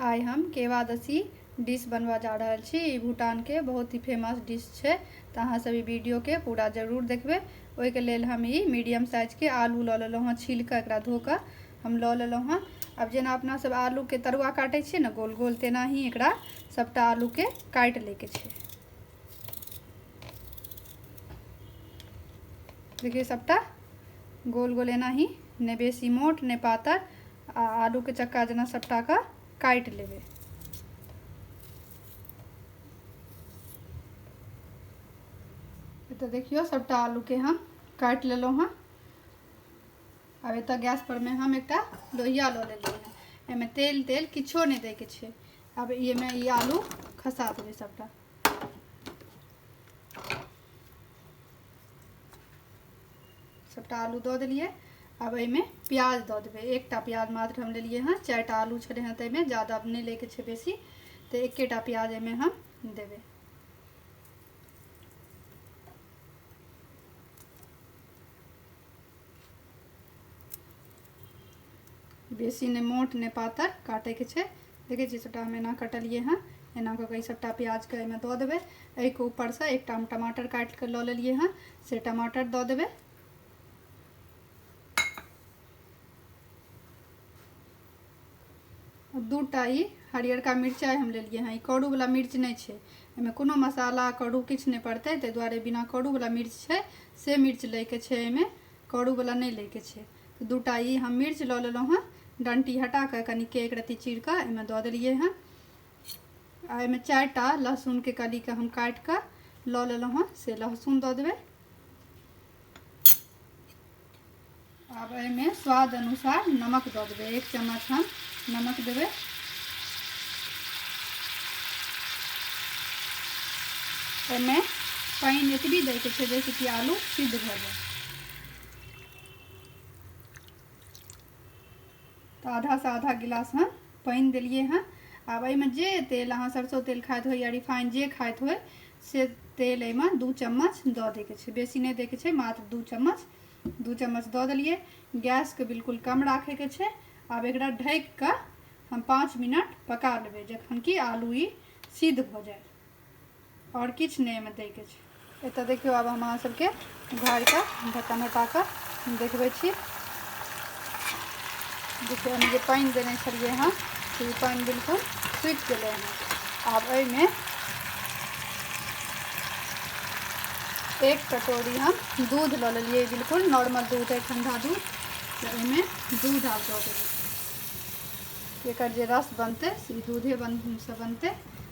आइ हम केवादसी डिश बनबऽ जा रहल छी ई भूटानके बहुत ही फेमस डिश छै तऽ अहाँ सब ई वीडियोके पूरा जरूर देखबै ओहिके लेल हम ई मीडियम साइजके आलू लऽ लेलहुँ हँ छील कऽ एकरा धो कऽ हम लऽ लेलहुँ हँ आब जेना अपना सब आलूके तरुआ काटै छियै ने गोल गोल तेनाही एकरा सबटा आलूके काटि लैके छै देखियौ सबटा गोल गोल एनाही नहि बेसी मोट नहि पातर आ आलू के चक्का जेना सबटा के काटि लेबै एतऽ देखियौ सबटा आलू के हम काटि लेलहुँ हँ आब एतऽ गैस पर में हम एकटा लोहिया लऽ लेलहुँ हँ एहिमे तेल तेल किछो नहि दैके छै आब एहिमे ई आलू खसा देबै सबटा सभटा आलू दऽ देलियै आब एहिमे प्याज दऽ देबै एकटा प्याज मात्र हम लेलियै हँ चारिटा आलू छलै हँ ताहिमे ज्यादा नहि लैके छै बेसी तऽ एकेटा प्याज एहिमे हम देबै बेसी नहि मोट नहि पातर काटैके छै देखै छियै सभटा हम एना कटलिए हँ एना कऽ कऽ ई सभटा प्याजके एहिमे दऽ देबै एहिके ऊपरसँ एकटा हम टमाटर काटि कऽ लऽ लेलिए हँ से टमाटर दऽ देबै दूटा ई हरियरका मिरचाइ हम लेलिए हँ ई करूवला मिर्च नहि छै एहिमे कोनो मसाला करू किछु नहि पड़तै ताहि दुआरे बिना करूवला मिर्च छै से मिर्च लैके छै एहिमे करूवला नहि लैके छै तऽ दूटा ई हम मिर्च लऽ लेलहुँ हँ डंटी हटा कऽ कनि के एक रत्ती चीर कऽ एहिमे दऽ देलियै हँ आ एहिमे चारि टा लहसुनके कलीके हम काटि कऽ लऽ लेलहुँ हँ से लहसुन दऽ देबै आब एहिमे स्वाद अनुसार नमक दऽ देबै एक चम्मच हम नमक देबै एहिमे पानि एतबी दैके छै जाहिसँ कि आलू सिद्ध भऽ जाय तऽ आधासँ आधा गिलास हम पानि देलियै हँ आब एहिमे जे तेल अहाँ सरसो तेल खाइत होइ या रिफाइन जे खाइत होइ से तेल एहिमे दू चम्मच दऽ दैके छै बेसी नहि दैके छै मात्र दू चम्मच दू चम्मच दऽ देलियै गैसके बिल्कुल कम राखैके छै आब एकरा ढकि कऽ हम पाँच मिनट पका लेबै जखन कि आलू ई सिद्ध भऽ जायत आओर किछु नहि एहिमे दैके छै एतऽ देखियौ आब हम अहाँ सबके घरके ढक्कन हटा कऽ देखबै छी देखियौ हम जे पानि देने छलियै हँ से ई पानि बिल्कुल सुखि गेलै हँ आब एहिमे एक कटोरी हम दूध लऽ लेलियै बिल्कुल नॉर्मल दूध अइ ठण्डा दूध तऽ एहिमे दूध आब दऽ देबै एकर जे रस बनतै से दूधे बन से बनतै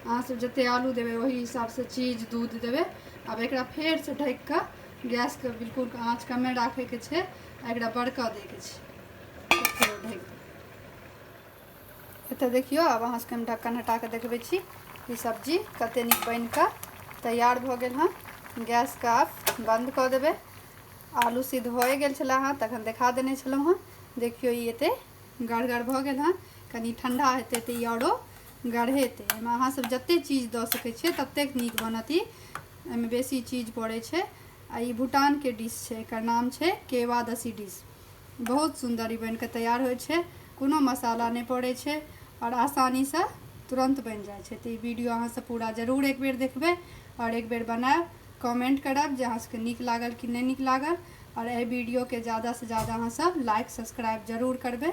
अहाँसभ जतेक आलू देबै ओहि हिसाबसँ चीज दूध देबै आब एकरा फेरसँ ढकि कऽ गैसके बिल्कुल आँच कमे राखैके छै आ एकरा बड़का दैके छै फेर ढकि एतऽ देखियौ आब अहाँसभके हम ढक्कन हटा कऽ देखबै छी ई सब्जी कतेक नीक बनि कऽ तैयार भऽ गेल हँ गैसके आब बन्द कऽ देबै आलू सिद्ध भए गेल छलै हँ तखन देखा देने छलहुँ हँ देखियौ ई एतेक गढ़गर भऽ गेल हँ कनि ठण्डा हेतै तऽ ई आओरो गढ़ेतै एहिमे अहाँसभ जतेक चीज दऽ सकै छियै ततेक नीक बनत ई एहिमे बेसी चीज पड़ै छै आ ई भूटानके डिश छै एकर नाम छै केवादसी डिश बहुत सुन्दर ई बनि कऽ तैयार होइ छै कोनो मसाला नहि पड़ै छै आओर आसानीसँ तुरन्त बनि जाइ छै तऽ ई वीडियो अहाँसभ पूरा जरूर एक बेर देखबै आओर एक बेर बनायब कमेंट करब जे अहाँसभके नीक लागल कि नहि नीक लागल आओर एहि वीडियोके ज्यादासँ ज्यादा अहाँसभ लाइक सब्सक्राइब जरूर करबै